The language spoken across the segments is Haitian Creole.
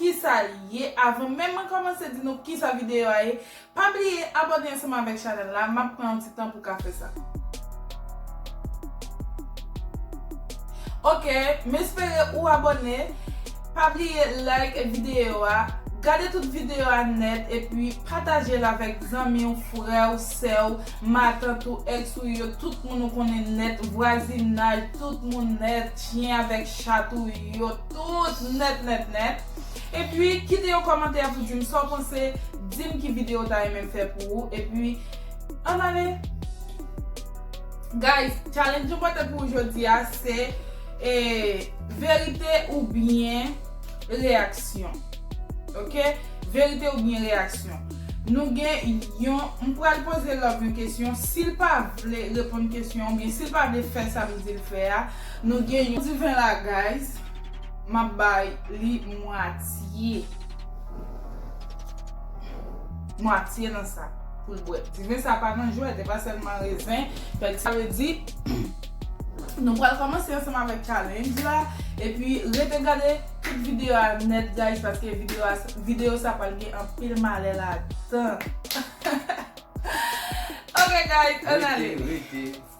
Kisa li ye avan menm mwen kòmanse di nou kisa videyo a ye pa bliye abòne ansanm avèk chanèl la map pran yon ti tan pou ka fè sa ok m espere ou abòne pa bliye like videyo a gade tout videyo a nèt epi pataje l avèk zanmi w frè w sè w matant ou ex ou yo tout moun ou konnen nèt vwazinaj tout moun nèt chyen avèk chat ou yo. Tout nèt nèt nèt. Epi kite yon kòmantè pou dim sa w panse, dim ki video w ta renmen m fè pou ou epi ann ale. Guys, challenge nou pote pou ou jodi a se e verite oubyen reyaksyon. Ok, verite oubyen reyaksyon. Nou gen yon, m pral poze Love yon kesyon, si l pa vle reponn kesyon oubyen si l pa vle fè sa m di l fè a, Nou gen yon diven la guys. Map bay li mwatye. Mwatye nan sa pou l bwè. Diven sa pa nan jwèt. E pa sèlman rezen. Fèk sa vle di nou pral kòmanse ansanm avèk challenge la. E pi rete gade tout video a nèt guys. Paske video sa pral gen anpil malè ladan. Ok guys an ale. Rete rete.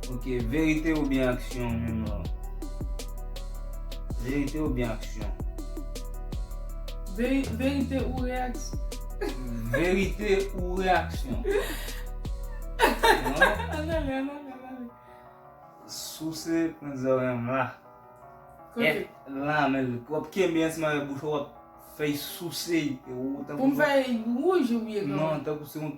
Ok verite ou byen aksyon menm lan. Verite ou byen aksyon. Veri verite ou reaksyon. Verite ou reaksyon. An ale an ale. Souse pran zòrèy m la. Kote? E la menl w ap kenbe ansanm avèk bouch ou w ap fè souse. Pou m fè wouj ou byen? Non tankou se yon.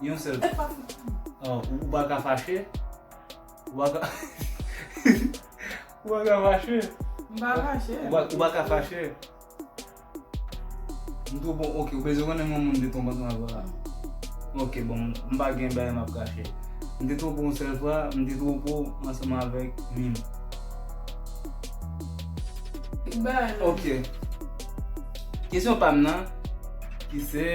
Yon sèl Mwen pa soufri. Ou pa ka fache. Ou pa ka Ou pa ka fache. M pa fache. Ou pa ka fache. M two bon ok ou bezwen konnen moun m te twonpe ansanm avè l la. Ok bon m pa gen bagay m ap kache. M te twonpe w yon sèl fwa, m te twonpe w ansanm avèk Mim. Ki bagay Mim? Ok. Kesyon pa m nan. Ki se.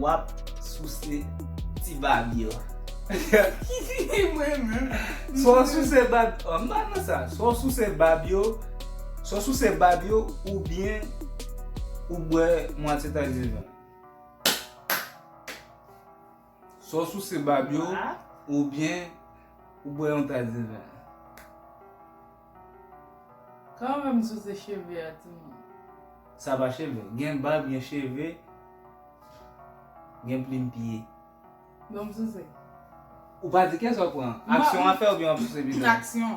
Wap souse ti baby yo. Swa w souse bab. Oh m pa nan sa. Swa w souse bab yo. Swa w souse bab yo ou byen ou bwè mwatye taxi vin. Sa w souse bab yo oubyen ou bwè yon tas diven? Kòman m souse cheve a timoun? Sa pa cheve. Gen bab, gen cheve, gen plim pye. Donk m souse. Ou pa di kiyès wap pran? Aksyon an fè oubyen wap souse pito? Aksyon.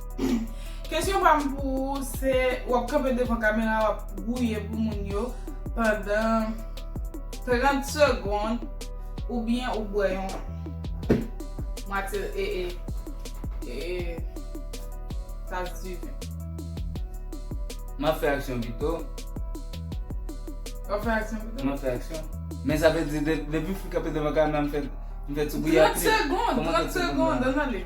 Kesyon pam pou ou se wap kanpe devan kamera wap gouye pou moun yo pandan 30 segond oubyen ou bwè yon mwatye ee ee tas di ven. Map fè aksyon pito. Wap fè aksyon pito? Map fè aksyon. Men sa vle di depi m fin kanpe devan kamera m fè ti gouye a pito. 30 segond, 30 segond an ale.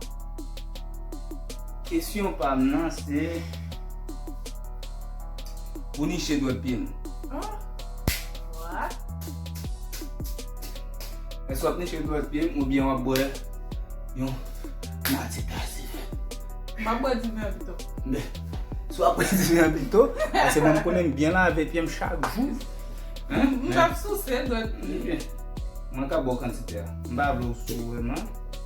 Kesyon pam nan se Pou niche dwèt pyem. What? Èske wap niche dwèt pyem oubyen wap bwè yon nati tas diven? Map bwè diven an pito. Bè, si wap bwè diven an pito, pase mwen konnen m byen lave pyem chak jou. Mwen ap souse dwèt pyem. Mwen ka bwè kantite a. M pa vle w sou vreman.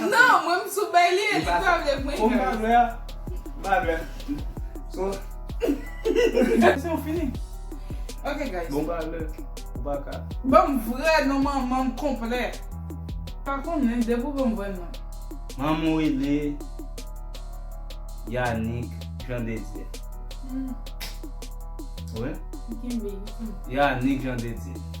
Non mwen m sou bay li e li pa vle pran Ou pa vle a Ou pa vle So Se ou fini Ok guys Bon pa vle Ou pa ka Banm vrè non manman m konplè Pa konnen depi ou banm vrè non Manman w rele Yanick Jean de Dieu Wi Yanick Jean de Dieu.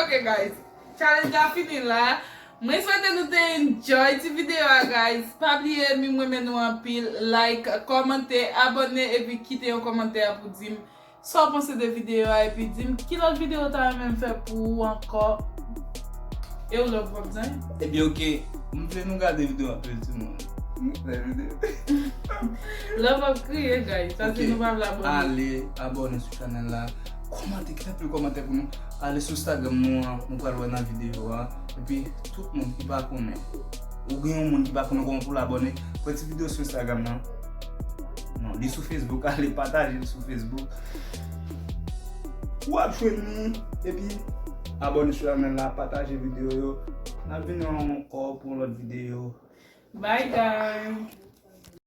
Ok guys challenge la fini la Mwen swete nou te enjoy ti video a guys Pa bliye m renmen nou anpil like kòmante abòne epi kite yon kòmantè pou dim sa w panse de video a epi dim ki lòt video ou ta renmen m fè pou ou ankò Ew love wap bzwen yo. Ebyen ok m vle nou gade video anpil ti moun Mezanmi m vle video. Love ap kriye guys sa se nou pa vle abòne. Ale abòne sou chanèl la. Kòmante kèk anpil kòmante pou nou Ale sou stagram nou an Nou pral wè nan video an Epi tout moun ki pa konnen Ou gen yon moun ki pa konnen kòman pou l abòne Fè ti video sou instagram nan Non li sou facebook Ale pataje l sou facebook Wap jwenn li Epi abòne sou chanèl la Pataje video yo Nap vini ankò pou yon lòt video Bye guys